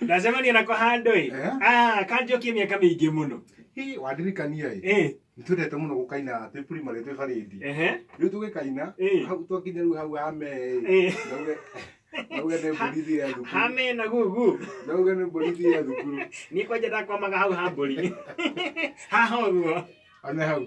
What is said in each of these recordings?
ndacemania nako handå ä Eh? kanjokie mä aka mä ingä må no Hii, wandirikania ĩ Ĩ, nĩ twendete mũno gũkaina twĩ primary twĩ barĩndi ehe. rĩu tũgĩkaina Ĩ. hau twakinya rĩu hau hame Ĩ. nauge nauge nĩ mbũrithi ya thukuru hame na gugu nauge nĩ mbũrithi ya thukuru niä kwanja ndakwamaga hau hambå ri haha å guo one hau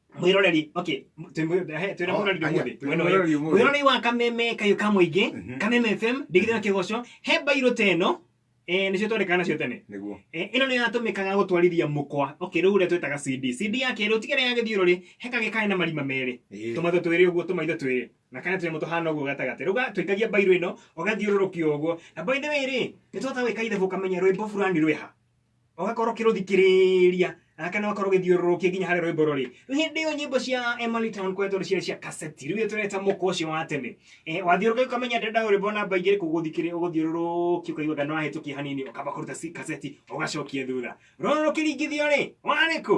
mwiroreri okay twĩ mwĩ- he, twĩ na Oh, mwiroreri aya, ũmũthĩ twĩ na Mwena ũyũ. mwĩroreri ũmũthĩ. mwiroreri wa kameme kayu ka mũingĩ Mhm. kameme fm ndigithio na kĩgoco he mbairũ ta ĩno eh, nĩcio twandĩkaga nacio tene nĩguo Eh, ĩno nĩyo yatũmĩkaga gũtwarithia mũkwa okay rĩu ũrĩa twĩtaga cd cd ya kerĩ ũtigere ya gĩthiũrũrĩ he kagĩ kaĩ na marima merĩ Ĩĩ. tũmatho twĩrĩ ũguo tũmaitho twĩrĩ na kana tũnyamũ tũhana ũguo gatagatĩ rĩu ga- tũikagia mbairũ ĩno ũgathiũrũrũkio ũguo na by the way rĩ nĩ twahota gwĩka ithabu ũkamenya rwĩmbo burani rwĩha ũgakorwo ũkĩrũthikĩrĩria ah, kana ũgakorwo ũgĩthiũrũrũkia nginya harĩ rwĩmbo rũrĩ rĩu hĩndĩ ĩyo nyĩmbo cia Emily Town kũrĩa tũrĩ ciarĩ cia kaseti rĩu tũreta mũkwa ũcio wa tene Eh, wathiũrũrũkia ũkamenya ndĩrenda rwĩmbo namba ingĩ rĩkũ ũgũthikĩrĩ ũgũthiũrũrũkia ũkaigua kana wahĩtũkia hanini ũkamba kũruta si- kaseti ũgacokia thutha rũrũ rũkĩringithio rĩ warĩ kũ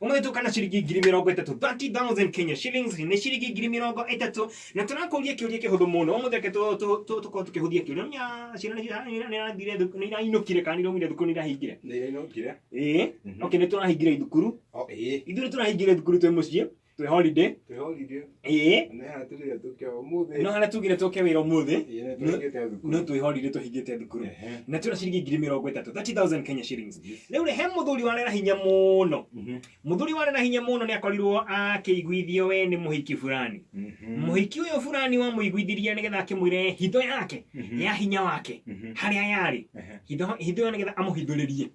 umwe tukana shilingi ngiri mirongo itatu 30000 Kenya shillings ni shilingi ngiri mirongo itatu na turakuria kiuria kihuthu muno umuthi reke tu- tu- tu- tukorwo tukihuthia kiuria nya ciana nirathire nirainukire kana niraumire thukuru nirahingire nĩirainũkire ĩĩ Mhm. okay nĩ tũrahingire thukuru Oh, ĩĩ ithuĩ nĩ tũrahingire thukuru twĩ mũciĩ twĩ holiday twĩhorire ĩĩ nĩ hana tũrĩre tũkĩa ũmũthĩ no harĩa tugire tũke wĩra ũmũthĩ Ĩĩ, nĩ tũhingĩte thukuru. no twĩhorire tũhingĩte thukuru Ehe. na twĩna ciringi ngiri mĩrongo ĩtatũ 30000 kenya shillings rĩu rĩ he mũthuri warera hinya mũno Mhm. mũthuri warera hinya mũno nĩ akorirwo akĩiguithio we nĩ mũhiki fulani Mhm. mũhiki ũyũ fulani wamũiguithirie nĩgetha akĩmwĩre hitho yake Mhm. ya hinya wake Mhm. harĩa yarĩ Ehe. hitho hitho ĩyo nĩgetha amũhithũrĩrie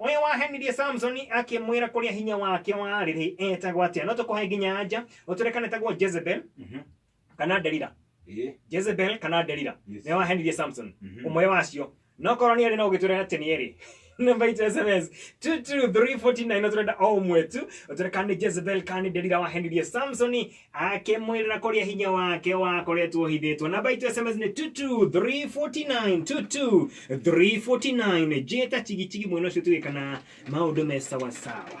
Ũrĩa wahenirie Samsoni akĩmwĩra kũrĩa hinya wake warĩ rĩ etagwo atĩa no tũkũhe nginya anja ũtwĩre kana etagwo Jezebel Mhm. kana Delila Ĩĩ. Jezebel kana Delila Yes. nĩ wahenirie Samson Mhm. ũmwe wacio no korwo nĩ erĩ no ũgĩtwĩra atĩ nĩ erĩ namba itũ sms 22349 no tũrenda o ũmwe tu ũtwĩre kana nĩ Jezebel kana nĩ Delila wahenirie Samsoni akĩmwĩrĩra kũrĩa hinya wake wakoretwo ũhithĩtwo namba itũ sms nĩ 22349 22349 njĩta chigicigi mwena ũcio tuge kana maũndũ me sawasawa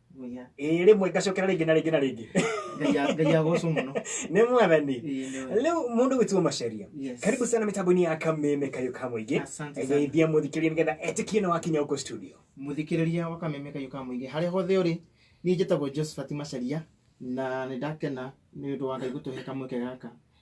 Mũiya. ĩĩ rĩmwe ngacokera rĩngĩ na rĩngĩ na rĩngĩ Ngai a- Ngai agocwo mũno. nĩ mwathani Ĩĩ, nĩ wega. rĩu mũndũ gwĩtuo macaria Yes. karibu sana mĩtambo-inĩ ya kameme kayo ka mũingĩ Asante sana. geithia mũthikĩria nĩgetha etĩkie na wakinya huko studio Mũthikĩrĩria wa kameme kayo ka mũingĩ. Harĩa hothe ũrĩ, niĩ njĩtagwo Josephat Macharia na nĩ ndakena nĩ ũndũ wa Ngai gũtũhe kamweke gaka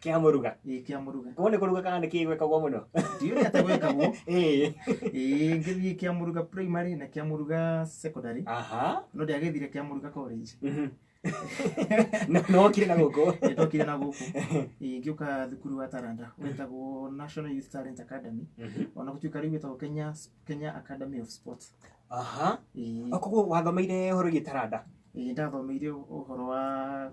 kia muruga ĩ kĩa mũruga ko ni kuruga kana ni kigwekagwo muno ndiũrĩ atĩ gwĩkagwo ĩĩ ĩ ngĩthiĩ kĩa mũruga primary na kĩa mũruga secondary aha no ndiagethire kĩa mũruga college Mhm. no no kire na guku ndokire na gũkũ Ĩ, ngĩũka thukuru wa taranda wetagwo national youth talent academy ona gũtuĩka rĩu wetagwo kenya kenya academy of sports aha Ĩ, koguo wathomeire horo gitaranda ĩ, ndathomeire ũhoro wa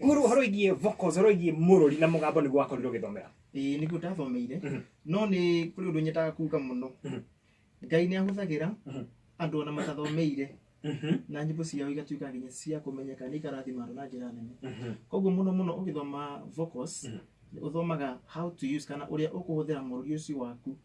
Kuru horo igie vocals horo igie mururi na mugambo ni gwakorirwo githomera. Eh ni guta thomeire. Mhm. No ni kuri undu nyetaga kuga muno. Mhm. Ngai ni ahuthagira mhm. andu ona matathomeire. na nyimbo ciao igatuika nginya cia kumenyeka ni ikarathima andu na njira nene koguo muno muno ugithoma vocals uthomaga how to use kana uria ukuhuthira mururi ucio waku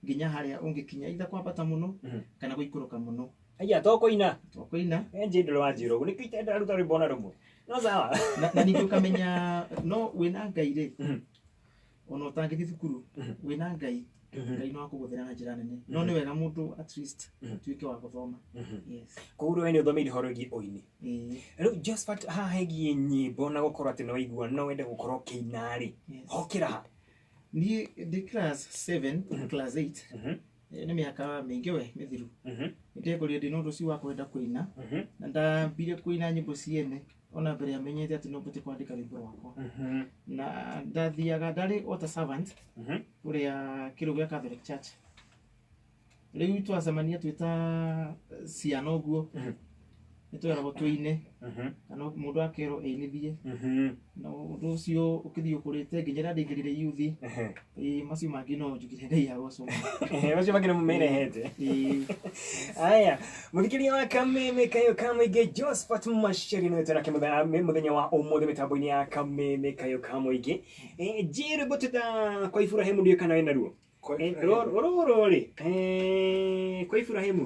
nginya haria ungikinya itha kwambata muno kana guikuruka muno Aya to koina. Twakoina. Enje ndolo wanjiro guo nikyo itenda ruta rwimbo ona rumwe. No sawa. Na, na ningĩ ũkamenya no wĩna ngai rĩ Mhm. ona ũtangĩthiĩ thukuru Mhm. wĩna ngai Mhm. ngai no akũgũthĩra na njĩra nene no nĩ wega mũndũ at least Mhm. atuĩke wa gũthoma Mhm. yes Koguo rĩu we nĩ ũthomeire ũhoro wĩgiĩ ũini. Ĩĩ, Rĩu Josephat haha hegiĩ nyĩmbo na gũkorwo atĩ nĩ waigua no wende gũkorwo ũkĩina-rĩ, yes. hokĩra ha? niĩ ndĩ class 7 Mhm. class 8 Mhm. Eh, nĩ mĩaka mĩingĩ we mĩthiru Mhm, nĩndekũrire ndĩ na ũndũ ũcio wa kwenda kũina mhm, na ndambire kũina nyĩmbo ciene ona mbere amenyete atĩ no mbote kwandĩka rwĩmbo rwakwa mhm, na ndathiaga ndarĩ o ta servant mhm, ũrĩa kĩrĩu gĩa Catholic Church rĩu twacemania twĩ ta ciana ũguo Mhm. nĩ tweragwo tũine Mhm. kana mũndũ akerwo ĩinithie Mhm. na ũndũ ũcio ũkĩthiĩ ũkũrĩte nginya rĩrĩa ndĩngĩrire yuthi Ehe. ĩĩ macio mangĩ no njugire ngai agocoma Ehe, macio mangĩ nĩ mũmerehete ĩĩ aya mũthikĩria wa kameme kayo ka mũingĩ josphat maceri nĩwe twenake mũthenya- mĩ- mũthenya wa ũmũthĩ mĩtambo-inĩ ya kameme kayo ka mũingĩ Eh, njĩrĩ bũtĩta kwa iburahĩmu ndiũ kana wĩna ruo Kwa Eh, Iburahĩmu. rũrũ- rũrũ rĩ eh, kwa iburahĩmu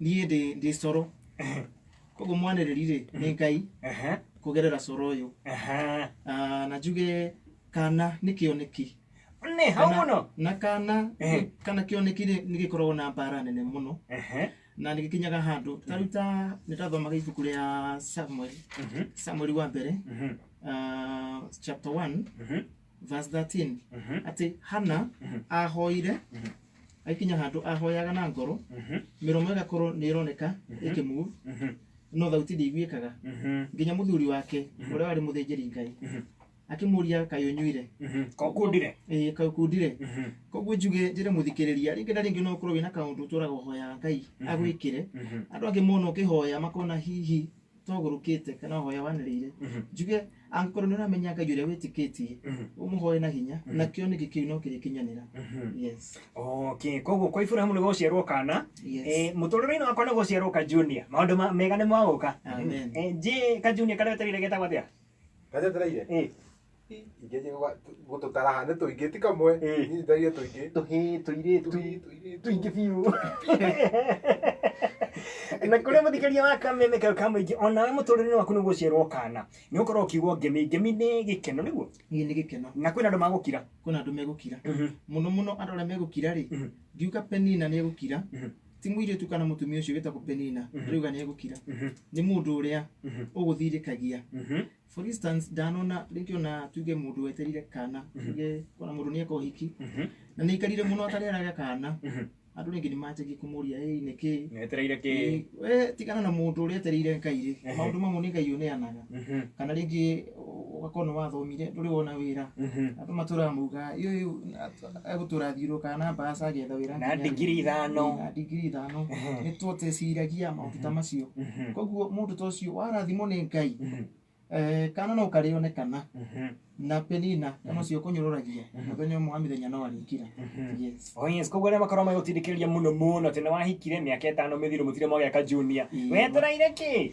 niye ndi ndi soro kogo mwana rerire ne ngai Ehe. kugerera soro oyo Ehe. Ah, na juge kana ni kioneki Nĩ hau Kana- mũno. na kana Eh. kana kioneki rĩ nĩ gĩkoragwo na mbara nene mũno Ehe. na nĩ gĩkinyaga handũ taruta nĩ tathomaga ibuku rĩa samuel Mhm. samuel wa mbere Mhm. ah, chapter 1 Mhm. verse 13 Mhm. atĩ hana Mhm. ahoire Mhm. aikinya handũ ahoyaga na ngoro Mhm. mĩromo ĩgakorwo nĩ ĩroneka Mhm. ĩkĩmove Mhm. no thauti ndĩiguĩkaga Mhm. nginya mũthuri wake Mhm. ũrĩa warĩ mũthĩnjĩri ngai Mhm. akĩmũria kaĩ ũnyuire Mhm. Ko kundire. ĩĩ kaĩ ũkundire Mhm. koguo njuge njĩre mũthikĩrĩria rĩngĩ na rĩngĩ no ũkorwo wĩna kaũndũ ũtũraga ũhoyaga ngai Mhm. agwĩkĩre Mhm. andũ angĩ mona ũkĩhoya makona hihi togurukite kana hoya waniriire Mhm. njuge angĩkorwo nĩ ũramenya ngai ũrĩa wĩtĩkĩtie Mhm. ũmũhoe na hinya na kĩoneki kĩu no kĩrĩkinyanĩra Mhm. yes okay koguo kwa iburahamu nĩ gũgũciarwo kana yes Eh, mũtũrĩre-inĩ wakwa nĩ gũciarwo ka junior maũndũ ma- mega nĩ magũka Amen. Eh, njĩ ka junior karĩa ũterire getagwo atĩa gajetereire ĩ ingĩnjä gå tå tara ha nä tå ingä ti kamwe Ĩ. nyitithagie tå ingä tũhĩ tũirĩtu tũingĩ biũ na kũrĩa mũthikĩria wa kameme kayo ka mũingĩ onawe mũtũrĩre waku nĩ gũciarwo kana nĩ ũkorwo ũkiugwo ngemi ngemi nĩ gĩkeno nĩguo ĩĩ nĩ gĩkeno na kwĩna andũ magũkira kwĩna andũ megũkira mũno mũno andũ arĩa megũkira rĩ ngiuga penina nĩ egũkira ti mũirĩtu kana mũtumia ũcio wĩtagwo penina Mhm. rĩuga nĩ egũkira Mhm. nĩ mũndũ ũrĩa Mhm. ũgũthirĩkagia Mhm. for instance ndanona rĩngĩ ona tuge mũndũ weterire kana Mhm. tuge kona mũndũ nĩ eka ũhiki Mhm. na nĩ aikarire mũno atareraga kana Mhm. andũ rĩngĩ nĩ manjagia kũmũria ĩĩ nĩ kĩĩ Nĩwetereire kĩ? Ĩĩ, we tigana na mũndũ ũrĩa etereire ngai rĩ Ehe. maũndũ mamwe nĩ ngai ũneanaga Mhm. kana rĩngĩ ũgakorwo nĩ wathomire ndũrĩ wona wĩra andũ matũraga maugaga "Ĩ ũyũ egũtũra athiũrũrũkaga na mbaca agĩetha wĩra na nginya rĩ?" ndigiri ithano na ndigiri ithano nĩ twoteciragia maũndũ ta macio koguo mũndũ ta ũcio warathimwo nĩ ngai eh, kana no karĩone kana na penina kana ũcio ũkũnyũrũragia mũthenya ũmwe wa mĩthenya no arĩkira yes Oh yes, koguo arĩa makorwo magĩgũtindĩkĩrĩria mũno mũno atĩ nĩwahikire mĩaka ĩtano mĩthiru mũtire mwagĩa ka junior Ĩĩ. wetereire kĩ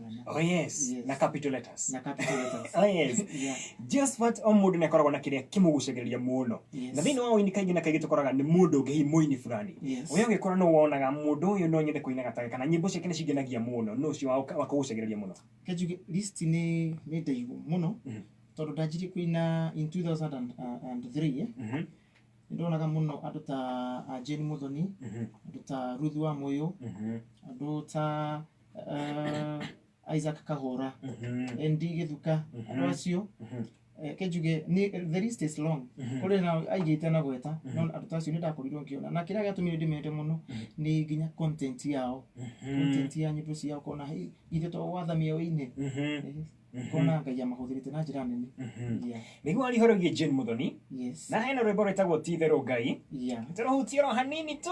Oh yes, Yes. na capital letters. na capital letters. Oh yes. Yeah. Josephat o mũndũ nĩ akoragwo na kĩrĩa kĩmũgucagĩrĩria mũno Yes. na thĩinĩ wa ũini kaingĩ na kaingĩ tũkoraga nĩ mũndũ ũngĩ hihi mũini fulani Yes. ũrĩa ũngĩkora nĩ wonaga mũndũ ũyũ no nyende kũinaga take kana nyĩmbo ciake nĩ cingenagia mũno nĩ ũcio wa- wakũgucagĩrĩria mũno Kenjuge list nĩ nĩ ndaihu mũno Mhm. tondũ ndanjirie kuina in 2003 Mhm, nĩ ndonaga mũno andũ ta ah, Jane Muthoni mhm, andũ ta Ruth wa Moyo mhm. andũ ta ah, isaac kahũra Mhm. nd gĩthuka Mhm. andũ acio Mhm. eh, kĩnjuge nĩ- the list is long Mhm. kũrĩ na aigĩte na gweta no andũ ta acio nĩ ndakorirwo ngĩona na kĩrĩa gĩatũmire ndĩmende mũno nĩ nginya content yao Mhm. content ya nyĩmbo ciao kona "Hey, ithe to watha mĩoĩ-inĩ Mhm. Eh, kona ngai amahũthĩrĩte na njĩra nene Mhm. Yeah, nĩguo arihorogie jane mũthoni yes na hena rwĩmbo rwĩtagwo ti itherũ ngai yeah. tũrũhutie ro hanini tu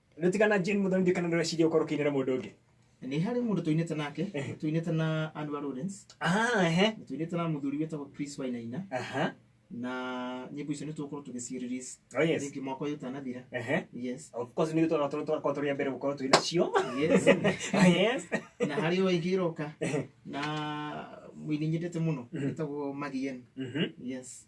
Nĩ tigana Jane Mũthoni kana ndũreciria ũkorwo ũkĩinĩra mũndũ ũngĩ. nä harä må ndå tåinä te nake Ehe. tåinä te na andå a Lawrence, Ah, ehe. na tåinä te na må thuri wä tagwo Chris wainaina Aha. na nyä mbo icio nä tå gå tå gä ci release Oh, yes. rĩngĩ mwaka å yå tanathira Ehe. yes Of course nĩ tũra tũra tũrakorwo tũrĩ a mbere gũkorwo twĩ nacio. yes Ah, yes. na harä o ä ngä ä roka na må ini nyendete må no wä tagwo magien Mhm. yes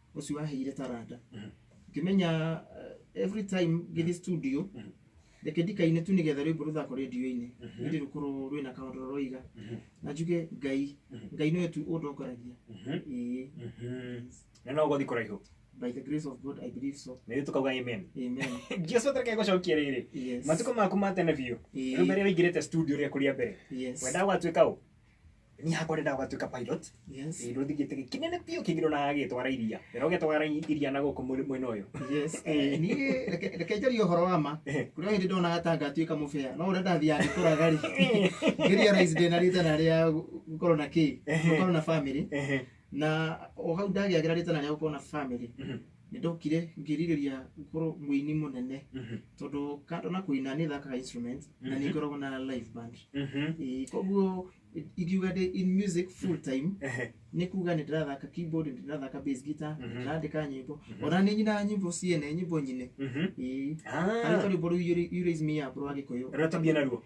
ũcio waheire taranda ngĩmenya eh, every time ngĩthiĩ studio reke ndikaine tu nĩgetha rwĩmbo rũthako rĩndio-inĩ ĩndĩ rũkorwo rwĩna kaũndũ rũroiga na njuge ngai ngai nĩwe tu ũndongoragia Ĩĩ. na no gũthi kũraihu by the grace of god i believe so nĩ tũkauga amen amen jesu atareke gũcokia rĩrĩ yes matukũ maku ma tene biũ Ĩĩ. rĩu mbere ũingĩrĩte studio rĩa kũrĩa mbere yes wendaga gwatuĩka ũ ni hakwa renda ugatuika pilot Yes. ndu thigite kinene pio kigiro na gitwara iria na ugitwara iria na guku mwena uyu Yes. Eh, niĩ reke- reke njarie ũhoro wa ma Eh. kũrĩa hĩndĩ ndonaga ta ngatuĩka mũbea no ũrĩa ndathiaga ngĩkũraga rĩ ngeria rais ndĩna rĩtana rĩa gũkorwo na kĩ gũkorwo na family ehe na o hau ndagĩagĩra rĩtana rĩa gũkorwo na family Mhm. nĩ ndokire ngĩrirĩria gũkorwo mũini mũnene Mhm. tondũ kando na kũina nĩ thakaga instrument na nĩ Mhm. ngoragwo na live band Mhm. Ĩĩ, koguo ingiuga ndĩ in music full time Ehe. nĩ kuga nĩ ndĩrathaka keyboard nĩ ndĩrathaka bass guitar nĩ Mhm. ndĩrandĩka nyĩmbo Mhm. ona nĩ nyinaga nyĩmbo ciene nyĩmbo nyine Mhm. Ĩĩ. harĩ Ah, karwĩmbo rũu Yuri- Yuri's Mia bro wa gĩkũyũ rũrĩa tũthiĩ naruo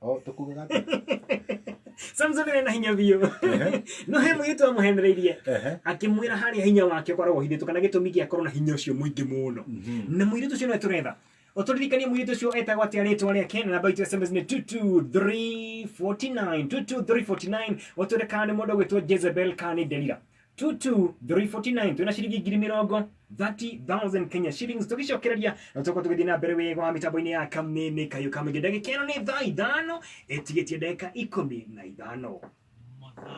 o tũkugaga atĩa? samson arĩ na hinya biũ Ehe. no he mũirĩtu amũhenereirie Ehe. akĩmwĩra harĩa hinya wake ũkoragwo ũhithĩtwo kana gĩtũmi gĩa korwo na hinya ũcio mũingĩ mũno Mhm. na mũirĩtu ũcio nĩwe tũretha ũtũririkanie mũirĩtu ũcio etagwo atĩa rĩtwa rĩake na namba itũ ya sms nĩ 22349 22349 ũtwĩre kana nĩ mũndũ ũgwĩtwo jezebel kana nĩ delila 2 2 3 49 twina ciringi ngiri mirongo 30,000 Kenya shillings tugicokereria tuko tugithii na mbere wega wa mitambo-ini ya kameme kayo kamege ndagika ino ni thaa ithano itigitie ndagika ikumi na ithano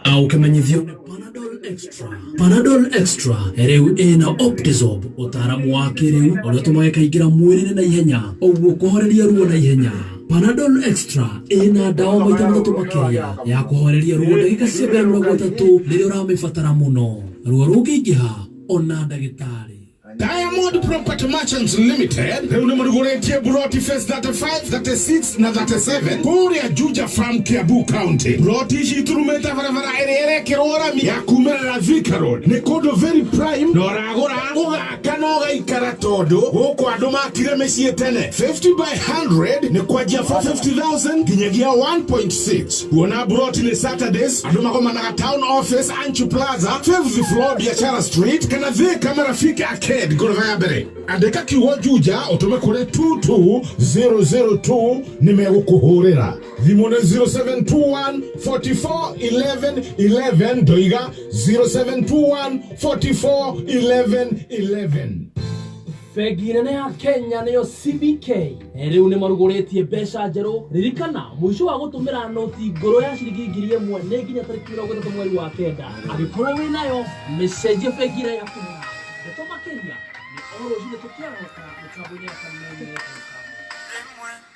au kimenyithio ni panadol extra panadol extra rĩu ĩna optizob ũtaaramu wa kĩrĩu ũrĩa ũtũmaga ĩkaingĩra mwĩrĩ-inĩ na ihenya ũguo kũhoreria ruo na ihenya Panadol Extra ĩrĩ na ndawa maita matatũ makĩria ya kũhooreria ruo ndagĩka cia mbere mĩrongo ĩtatũ rĩrĩa ũramĩbatara mũno. Ruo rũngĩingĩha ona ndagĩtarĩ. Diamond Property Merchants Limited rĩu nĩ mũrugũrĩtie buroti phase 35, 36 na 37 kũrĩa Juja Farm Kiambu County. Buroti ici iturumĩte barabara ĩrĩa ĩrekĩrwo rami ya kumĩrĩra Thika Road. Nĩ kũndũ very prime na ũragũra ũga Kana ũgaikara tondũ gũkũ andũ makire mĩciĩ tene. 50 by 100 nĩ kwanjia 450,000 nginyagia 1.6. Kuona buroti nĩ Saturdays, andũ magomanaga Town Office, Anchu Plaza, 5th floor Biashara Street kana Thika Marafiki Arcade ngoroba ya mbere. Andĩka kiugo Juja ũtũme kũrĩ 22002 nĩ megũkũhũrĩra. Vimone 0721 44 11 11 ndoiga 0721 44 11 11 Bengi nene ya Kenya nĩyo CBK rĩu nĩ marugũrĩtie mbeca njerũ. Ririkana mũico wa gũtũmĩra noti ngũrũ ya ciringi ngiri ĩmwe nĩ nginya tarĩki mĩrongo ĩtatũ mweri wa kenda. Angĩkorwo wĩ nayo mĩcenjie bengi ĩrĩa ĩratũmĩra. Ndeto makĩria nĩ o rũcinĩ tũkĩarahũka mĩtambo-inĩ ya Kameme FM.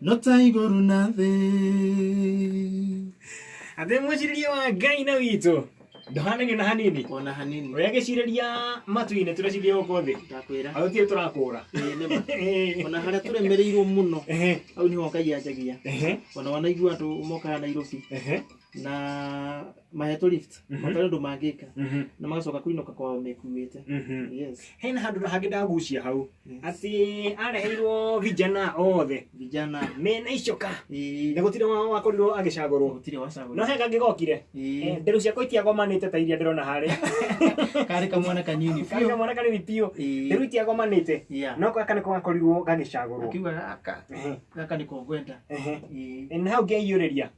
no ta igũrũ na thĩ athĩ mwĩcirĩrie wa ngai na witũ ndũhananio na hanini ona hanini ũrĩa gĩcirĩria matu-inĩ tũreciria gũkũ thĩ ndakwĩra agũtirĩ tũrakũra Ĩĩ, nĩ ma. Ehe. ona harĩa tũremereirwo mũno Ehe. hau nĩho ngai anjagia Ehe. ona wanaigua andũ mokaga nairobi Ehe. na mahetwo lift matarĩ ũndũ mangĩka Mhm. na magacoka kũinũka kwao mekuĩte Mhm. yes hena handå hangä ndagucia hau Yes. atä areheirwo vijana othe vijana mena icoka ĩĩ, na gå tirä wao wakorirwo agä cagårwo gũtirĩ wacagũra. no he kangä gokire Ĩĩ, ndä cia kå itiagomanä te ta iria ndä rona harä karĩ kamwana kanini biũ. kaga mwana kanini biå Ĩĩ, ndä itiagomanä te yeah. no gaka nä ko gakorirwo gagä cagårwo akiuga gaka gaka nĩko ngwenda Ĩĩ, na hau ngeiå rä ria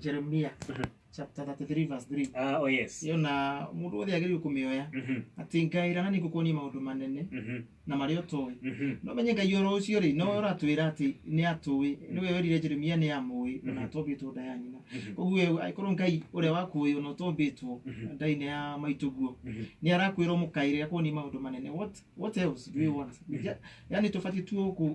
jeremia Mhm. chapter 33 verse 3 Ah, oh yes. ĩyo na mũndũ wothe agĩrĩirwo kũmĩoya Mhm. atĩ ngai rana nĩ ngũkuonia maũndũ manene Mhm. na marĩa ũtũĩ Mhm. no menye ngai oro ũcio rĩ no ũratwĩra atĩ nĩ atũĩ nĩwe werire jeremia nĩ amũĩ ona Mhm. atũmbĩtwo nda ya nyina Mhm. koguo we angĩkorwo ngai ũrĩa wakuoĩ ona ũtũmbĩtwo Mhm. ndainĩ ya maitũguo Mhm. nĩ arakwĩra mũkaĩre akuonie maũndũ manene what, what else do you want Mhm. Ja- yani tũbatiĩ tu gũkũ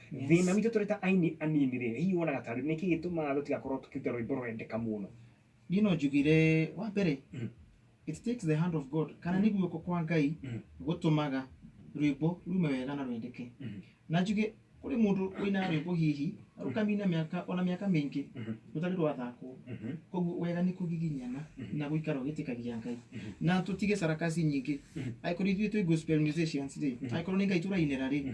Yes. Thĩna witũ tũrĩ ta aini anini rĩ, hihi wonaga tarĩ nĩkĩ gĩtũmaga tũtigakorwo tũkĩruta rwĩmbo rwendeka mũno? Niĩ no njugire wa mbere Mhm. it takes the hand of God kana nĩ guoko kwa Ngai Mhm. gũtũmaga rwĩmbo rume wega na rwendeke. Mhm. Na njuge kũrĩ mũndũ ũinaga rwĩmbo hihi rũkamina mĩaka ona mĩaka mĩingĩ Mhm. rũtarĩ rwathakwo. Mhm. Koguo wega nĩ kũgiginyana na gũikara ũgĩtĩkagia Ngai. Na tũtige sarakasi nyingĩ. Angĩkorwo ithuĩ twĩ gospel musicians rĩ, angĩkorwo nĩ Ngai tũrainĩra rĩ,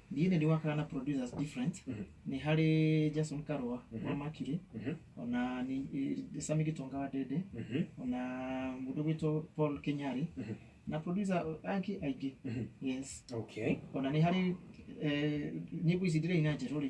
Ndiĩ nĩ ndĩwakaga na producers different nĩ harĩ Jason Karua wa Mercury ona ni eh, Sami Gitonga wa Dede ona mũndũ gwĩtwo Paul Kenyari na producer angĩ aingĩ yes okay ona nĩ harĩ eh, nyĩmbo ici ndĩraina njerũ rĩ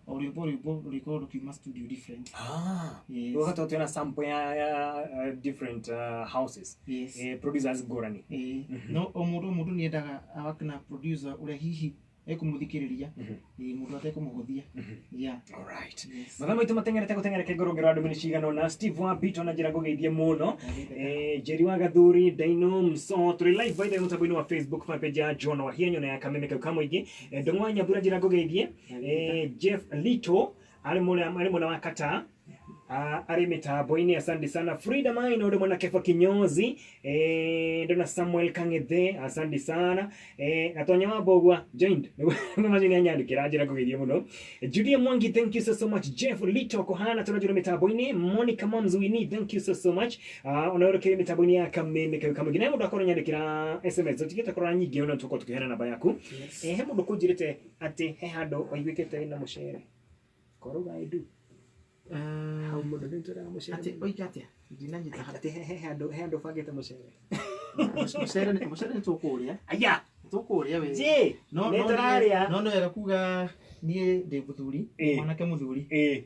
O rwĩmbo rwĩmbo rũrĩkorwo rũkiuma studio different Ah, Yes. ũgakata ũtĩ na sample ya, ya uh, different uh, houses yes eh, producers ngũrani Eh, Mhm. no o mũndũ o mũndũ nĩ endaga awake na producer ũrĩa hihi ekũmũthikĩrĩria Mhm. Eh, mũndũ atekũmũhũthia Mhm. yeah alright yes mathaa maitũ matengerete gũtengereke ngoro ngero andũ mĩnĩ cigana ona steve wa bito na njĩra ngũgeithie mũno Eh, njeri wa gathuri ndaino mso tũrĩ live by the way mũtambo-inĩ wa facebook fan page ya john wahia nyona ya kameme kau ka mũingĩ Eh, ndũng'wa nyambura njĩra ngũgeithie Eh, Jeff Lito arĩ mũna arĩ mũna wa Qatar Ah, arĩ mĩtambo-inĩ asante sana frida maina ũrĩ mwana keba kinyozi eh, ndona samuel kang'ethe asante sana eh, gatonya wa mbogwa joint nĩ manyu nĩ anyandĩkĩra njĩra ngũgeithie mũno judia mwangi thank you so, so much jeff lito kohana tũrajũrĩ mĩtambo-inĩ monica mamzuini thank you so, so much Ah, ona ũrĩ kĩrĩ mĩtambo-inĩ ya kameme kayo kamwingĩ naye mũndũ akorwo nyandĩkĩra sms ũtigĩte korora nyingĩ ona tũkorwo tũkĩheana namba yaku eh, he mũndũ kũnjĩrĩte Atĩ he handũ waiguĩkĩte wĩna mũcere. Korwo uga I do. Hau mũndũ nĩ ũtwĩraga mũcere. Atĩ oiga atĩa? Ndinanyita harĩa. Atĩ he- he handũ he handũ ũbangĩte mũcere. Mũcere nĩ- mũcere nĩ tũkũũrĩa. Aya! Nĩ tũkũũrĩa wĩ. Njĩ! No- Nĩ no- tũrarĩa. No nĩ wega kuga niĩ ndĩ mũthuri, Ĩĩ. mwanake mũthuri. Ĩĩ.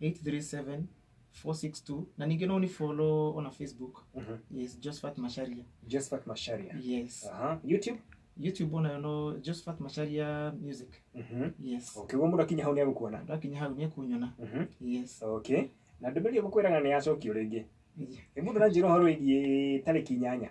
837 462 na ningĩ no ni follow on facebook Mhm. yes josephat masharia Josephat Masharia. yes Aha. YouTube? youtube onayo no josephat masharia music Mhm. yes Okay, guo mũndũ akinya hau nĩ agũkuona. andå akinya hau nä kunyona Mhm. yes Okay. Na ndũmĩrĩri ĩyo makwĩraga nĩ yacokio rĩngĩ. Ĩ mũndũ aranjĩra ũhoro wĩgiĩ tarĩki inyanya.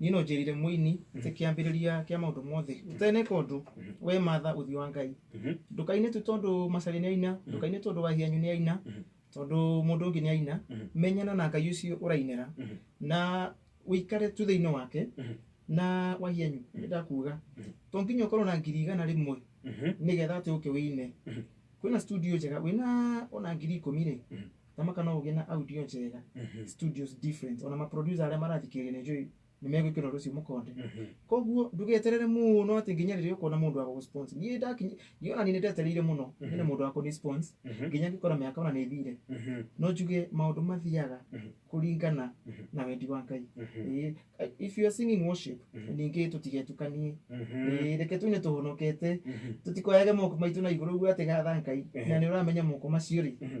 niĩ no njĩrire mũini atĩ kĩambĩrĩria kĩa maũndũ mothe ũteneka ũndũ we matha ũthiũ wa ngai Mhm. ndũkaine tu tondũ macarĩ nĩ aina ndũkaine tondũ wahianyu nĩ aina tondũ mũndũ ũngĩ nĩ aina Mhm. menyana na ngai ũcio ũrainĩra Mhm. na ũikare tu thĩinĩ wake Mhm. na wahianyu nĩ ndakuga Mhm. to nginya ũkorwo na ngiri igana rĩmwe Mhm. nĩgetha atĩ ũke wĩine Mhm. kwĩna studio njega wĩna ona ngiri ikũmi rĩ Mhm. kama kana ũgĩ na audio njega Mhm. studios different ona maproducer arĩa marathikĩrĩria nĩ njũĩ nĩ megwĩkĩra ũndũ ũcio mũkonde Mhm. koguo ndũgeterere mũno atĩ nginya rĩrĩa ũkuona mũndũ wa gũgũspons niĩ ndakinya niĩ ona niĩ nĩ ndetereire mũno Mhm. nyone mũndũ wa kũnispons Mhm. nginya ngĩkora mĩaka ona nĩ ĩthire Mhm. no njuge maũndũ mathiaga Mhm. kũringana Mhm. na wendi wa ngai Mhm. Ĩĩ, if you are singing worship Mhm. ningĩ tũtigetukanie Mhm. Ĩĩ, reke tũine tũhonokete Mhm. tũtikoyage moko maitũ na igũrũ ũguo atĩ gatha ngai Ehe. na nĩ ũramenya moko macio rĩ Mhm.